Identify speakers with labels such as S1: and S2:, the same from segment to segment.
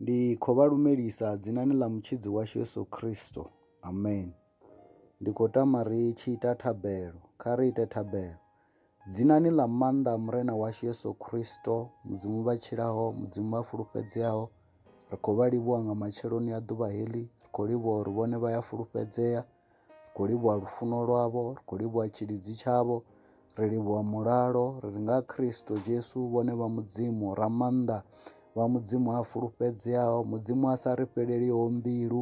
S1: Ndi khou vha lumelisa dzinani ḽa Mutshidzi washu Yesu Kristo. Amen. Ndi khou tama ri tshi ita thabelo. Kha ri ite thabelo. Dzinani ḽa maanḓa Murena washu Yesu Kristo, Mudzimu vha tshilaho, Mudzimu vha fulufhedzeaho, ri khou vha livhuwa nga matsheloni a ḓuvha heḽi, ri khou livhuwa uri vhone vha ya fulufhedzea. ri khou livhuwa lufuno lwavho, ri khou livhuwa tshilidzi tshavho, ri livhuwa mulalo, ri ri nga Kristo Jesu vhone vha Mudzimu ra maanḓa, vha Mudzimu a fulufhedzeaho, Mudzimu a sa ri fheleliho mbilu.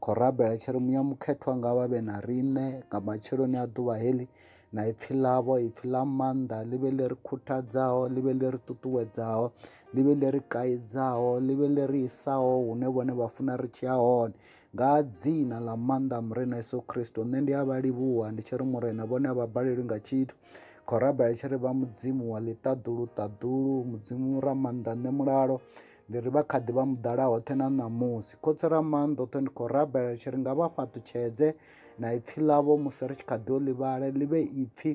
S1: Khou rabela tshiri muya mukhethwa nga vha vhe na riṋe nga matsheloni a ḓuvha heḽi na ipfi ḽavho ipfi ḽa maanḓa ḽi vhe ḽi ri khuthadzaho ḽi vhe ḽi ri ṱuṱuwedzaho ḽi vhe ḽi ri kaidzaho ḽi vhe ḽi ri isaho hune vhone vha funa ri tshi ya hone Nga dzina ḽa maanḓa a Murena Yesu Kristo, nṋe ndi a vha livhuwa ndi tshi ri Murena vhone a vha balelwi nga tshithu. Khou rabela tshi ri vha Mudzimu wa ḽiṱaḓulu ṱaḓulu, Mudzimu ra maanḓa nṋe mulalo. Ndi ri vha kha ḓi vha muḓala hoṱhe na ṋamusi. Khotsi ra maanḓa oṱhe ndi khou rabela tshi ri nga vha fhaṱutshedze na ipfi ḽavho musi ri tshi kha ḓi o ḽivhala ḽi vhe ipfi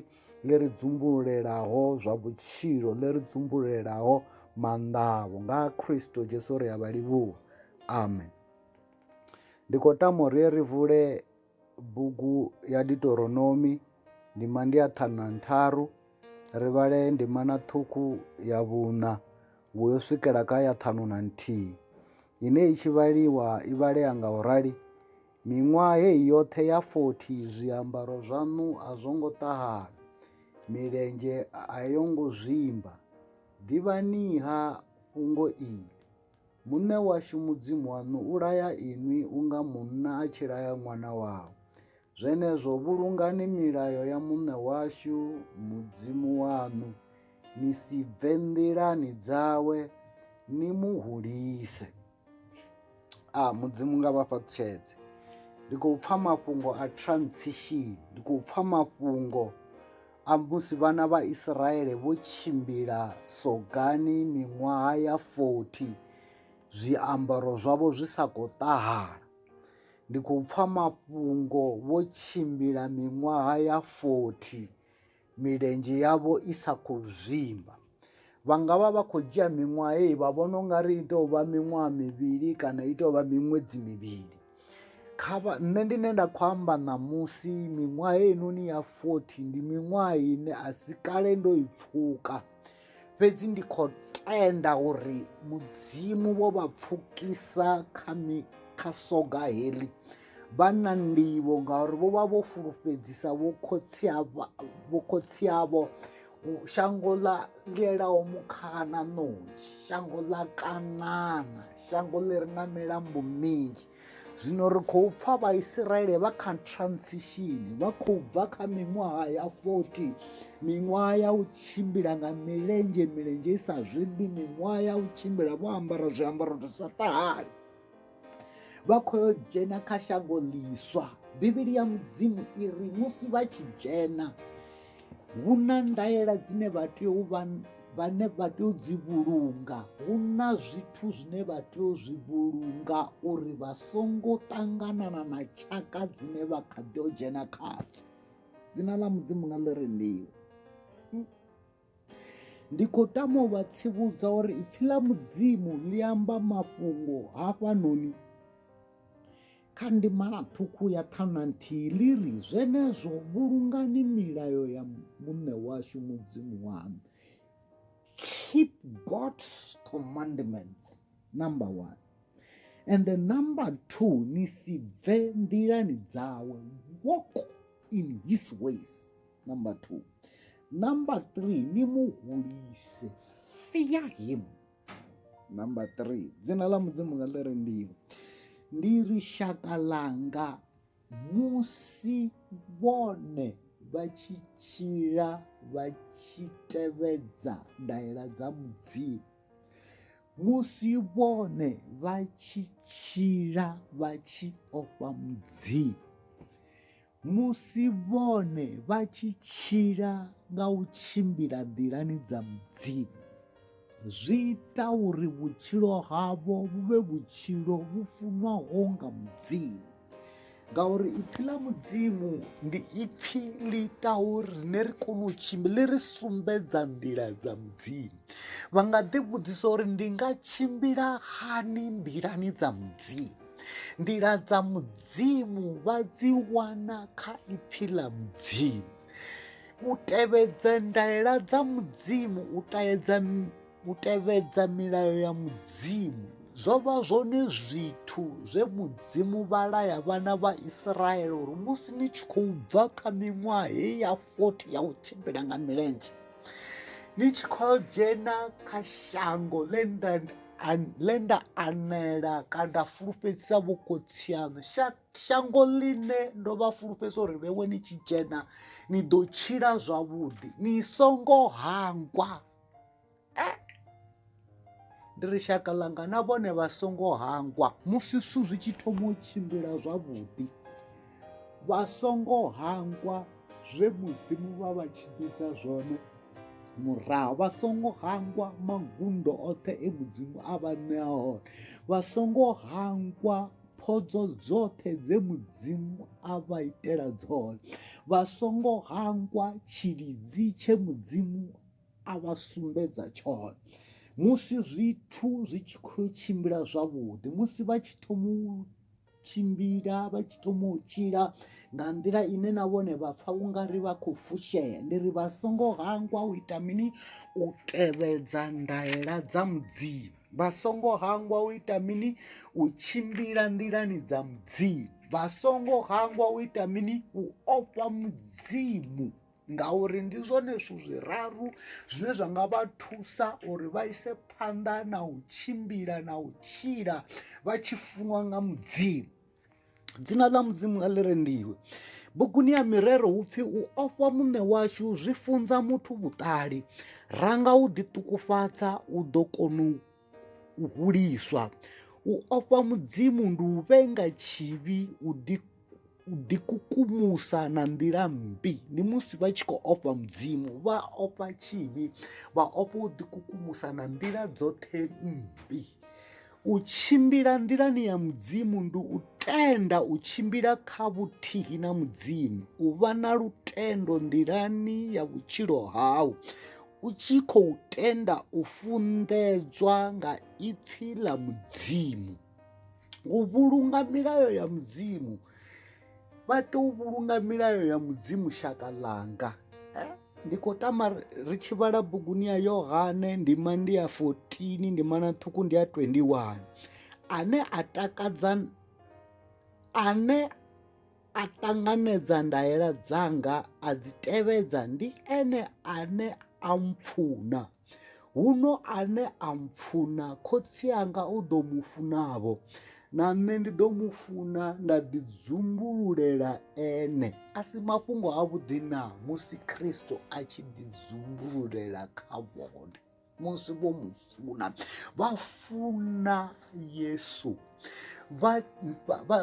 S1: ḽi ri dzumbululelaho zwa vhutshilo ḽi ri dzumbululelaho maanḓa avho nga Kristo Jesu ri a vha livhuwa. Amen. Ndi khou tama uri ri vule bugu ya Deuteronomi ndima ndi ya ṱhanu na ntharu ri vhale ndima na ṱhukhu ya vhuṋa vhu yo swikela kha ya ṱhanu na nthihi ine i tshi vhaliwa i vhalea nga u rali miṅwaha heyi yoṱhe ya 40 zwiambaro zwaṋu a zwo ngo ṱahala milenzhe a yo ngo zwimba ḓivhaniha fhungo ili Muṋe washu Mudzimu waṋu u laya inwi unga munna a tshi laya ṅwana wawe. Zwenezwo vhulungani milayo ya Muṋe washu Mudzimu waṋu, ni si bve nḓilani dzawe, ni mu hulise. A Mudzimu nga vha fhaṱutshedze. Ndi khou pfa mafhungo a transition, ndi khou pfa mafhungo a musi vhana vha Isiraele vho tshimbila sogani miṅwaha ya 40 zwiambaro zwavho zwi sa khou ṱahala ndi khou pfa mafhungo vho tshimbila miṅwaha ya 40 milenzhe yavho i sa khou zwimba vha nga vha vha khou dzhia miṅwaha heyi vha vhona u nga ri i tou vha miṅwaha mivhili kana i tou vha miṅwedzi mivhili kha vha nṋe ndi ne nda khou amba ṋamusi miṅwaha heinoni ya fothi ndi miṅwaha ine a si kale ndo i pfhuka fhedzi ndi khou tenda uri mudzimu vho vha pfukisa kha mi kha soga heḽi vha na ndivho ngauri vho vha vho fulufhedzisa vho khotsi vho khotsi avho shango ḽa lielaho mukhaha na ṋontshi shango ḽa kanana shango ḽi re na milambo minzhi zwino ri khou pfa vhaisraele vha kha transition vha khou bva kha miṅwaha ya 40 miṅwaha ya u tshimbila nga milenzhe milenzhe i sa zwimbi miṅwaha ya u tshimbila vho ambara zwiambaro zwi sa ṱahali vha khou yo dzhena kha shango ḽiswa bivhili ya mudzimu i ri musi vha tshi dzhena hu na ndaela dzine vha tea u vha vhane vha tea u dzi vhulunga hu na zwithu zwine vha tea u zwi vhulunga uri vha songo ṱanganana na tshaka dzine vha kha ḓi o dzhena khadzo dzina ḽa mudzimu nga ḽi rendiwa Ndi khou tama u vha tsivhudza uri ipfi ḽa mudzimu ḽi amba mafhungo hafhanoni kha ndimana ṱhukhu ya ṱhanu na nthihi ḽi ri zwenezwo vhulungani milayo ya muṋe washu mudzimu waṋu keep god's commandments number one and the number two ni si bve nḓilani dzawe walk in his ways number two number three ni mu hulise fear him number three dzina ḽa mudzimu nga ḽi ri ndiyo ndi ri shaka ḽanga musi vhone vha tshi tshila vha tshi tevhedza ndaela dza mudzimu musi vhone vha tshi tshila vha tshi ofha mudzimu Musi vhone vha tshi tshila nga u tshimbila nḓilani dza Mudzimu, zwi ita uri vhutshilo havho vhu vhe vhutshilo vhu funwaho nga Mudzimu ngauri ipfi ḽa mudzimu ndi ipfi ḽi ita uri rine ri kone u tshimbila ḽi ri sumbedza nḓila dza mudzimu vha nga ḓi vhudzisa uri ndi nga tshimbila hani nḓilani dza mudzimu nḓila dza mudzimu vha dzi wana kha ipfi ḽa mudzimu u tevhedza ndaela dza mudzimu u taedza u tevhedza milayo ya mudzimu zwo vha zwone zwithu zwe mudzimu vha laya vhana vha israele uri musi ni tshi khou bva kha miṅwaha heyi ya 40 ya u tshimbila nga milenzhe ni tshi khou dzhena kha shango ḽe nda a ḽe nda anela kana nda fulufhedzisa vho khotsi aṋu shango ḽine ndo vha fulufhedzisa uri vhewe ni tshi dzhena ni ḓo tshila zwavhuḓi ni songo hangwa eh? ndi ri shaka ḽanga na vhone vha songo hangwa musi zwithu zwi tshi thoma u tshimbila zwavhuḓi Vha songo hangwa zwe Mudzimu vha vha tshimbidza zwone murahu vha songo hangwa magundo oṱhe e mudzimu a vha ṋea hone vha songo hangwa phodzo dzoṱhe dze mudzimu a vha itela dzone vha songo hangwa tshilidzi tshe mudzimu a vha sumbedza tshone musi zwithu zwi tshi khou tshimbila zwavhuḓi musi vha tshi thoma tshimbila vha tshi thoma u tshila nga nḓila ine na vhone vha pfha u nga ri vha khou fushea ndi ri vha songo hangwa u ita mini u tevhedza ndaela dza mudzimu vha songo hangwa u ita mini u tshimbila nḓilani dza mudzimu vha songo hangwa u ita mini u ofha mudzimu ngauri ndi zwone zwithu zwiraru zwine zwa nga vha thusa uri vha ise phanḓa na u tshimbila na u tshila vha tshi funwa nga mudzimu dzina ḽa mudzimu nga ḽi rendiwe buguni ya mirero hu pfi u ofha muṋe washu zwi funza muthu vhuṱali ranga u ḓiṱukufhadza u ḓo kona u u huliswa u ofha mudzimu ndi u vhenga tshivhi u ḓi u ḓikukumusa na nḓila mmbi ndi musi vha tshi khou ofha mudzimu vha ofha tshivhi vha ofha u ḓikukumusa na nḓila dzoṱhe mmbi u tshimbila nḓilani ya mudzimu ndi u tenda u tshimbila kha vhuthihi na mudzimu u vha na lutendo nḓilani ya vhutshilo hau u tshi khou tenda u funḓedzwa nga ipfi ḽa mudzimu u vhulunga milayo ya mudzimu vha tea u vhulunga milayo ya mudzimu shaka ḽanga eh? ndi khou tama ri tshi vhala buguni ya yohane ndima ndi ya 14 ndima na ṱhukhu ndi ya 21 ane a takadza ane A ṱanganedza ndaela dzanga a dzi tevhedza, ndi ene ane a mpfuna. Huno ane a mpfuna Khotsi anga u ḓo mu funa-vho, na nṋe ndi ḓo mu funa nda ḓidzumbululela ene. A si mafhungo avhuḓi naa musi Kristo a tshi ḓidzumbululela kha vhone? musi vho mu funa vha funa yesu vha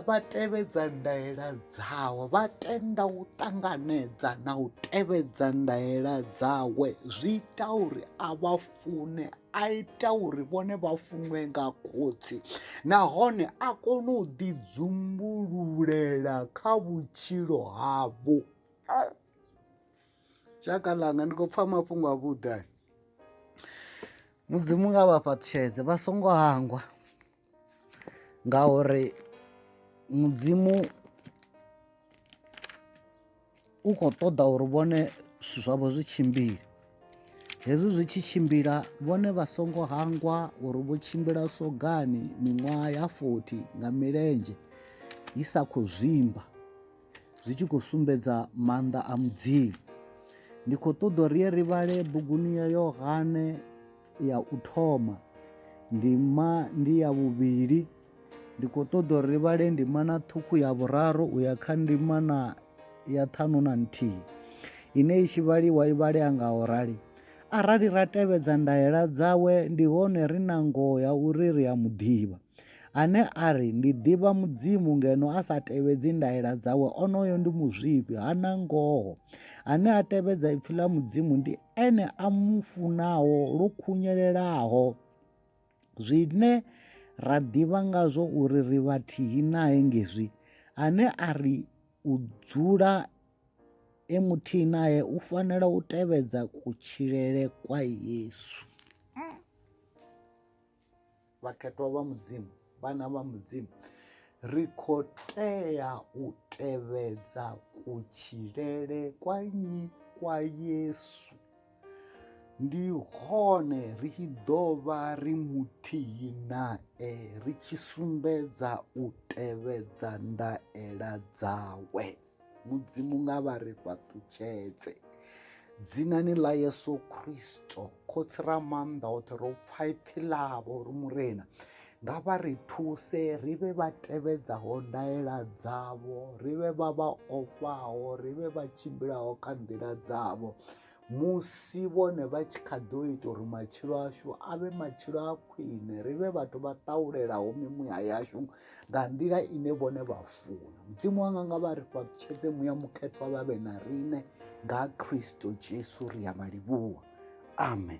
S1: vha tevhedza ndaela dzawe vha tenda u ṱanganedza na u tevhedza ndaela dzawe zwi ita uri a vha fune a ita uri vhone vha funwe nga khotsi nahone a kone u ḓidzumbululela kha vhutshilo havho shaka ḽanga ndi khou pfha mafhungo a vhuḓa mudzimu nga vha fhaṱutshedze vha songo hangwa ngauri mudzimu u khou ṱoḓa uri vhone zwithu zwavho zwi tshimbile hezwi zwi tshi tshimbila vhone vha songo hangwa uri vho tshimbila sogani miṅwaha ya 40 nga milenzhe i sa khou zwimba zwi tshi khou sumbedza maanḓa a mudzimu ndi khou ṱoḓa uri ye ri vhale buguni ya yohane ya u thoma ndima ndi ya vhuvhili ndi khou ṱoḓa uri ri vhale ndima na ṱhukhu ya vhuraru u ya kha ndima na ya ṱhanu na nthihi ine i tshi vhaliwa i vhalea nga u rali arali ra tevhedza ndaela dzawe ndi hone ri na ngoho ya uri ri a mu ḓivha Ane a ri, Ndi ḓivha Mudzimu ngeno a sa tevhedzi ndaela dzawe, onoyo ndi muzwifhi, ha na ngoho. Ane a tevhedza ipfi ḽa Mudzimu ndi ene a mu funaho lwo khunyelelaho. Zwine ra ḓivha ngazwo uri ri vhathihi nae ngezwi, ane a ri u dzula e muthihi nae u fanela u tevhedza kutshilele kwa Yesu. vhakhetwa vha mudzimu vhana vha mudzimu ri khou tea u tevhedza kutshilele kwa nnyi kwa yesu ndi hone ri tshi ḓo vha ri muthihi nae ri tshi sumbedza u tevhedza ndaela dzawe Mudzimu nga vha ri fhaṱutshedze dzinani ḽa Yesu Kristo khotsi ra maanḓa oṱhe ro pfha ipfi ḽavho ri murena nga vha ri thuse ri vhe vha tevhedzaho ndaela dzavho ri vhe vha vha ofhaho ri vhe vha tshimbilaho kha nḓila dzavho musi vhone vha tshi kha ḓo ita uri matshilo ashu a vhe matshilo a khwine ri vhe vhathu vha ṱaulelaho mimuya yashu nga nḓila ine vhone vha funa mudzimu wanga nga vha ri fhaputshedze muya mukhethwa vha vhe na riṋe nga kristo jesu ri ya vha livhuwa amen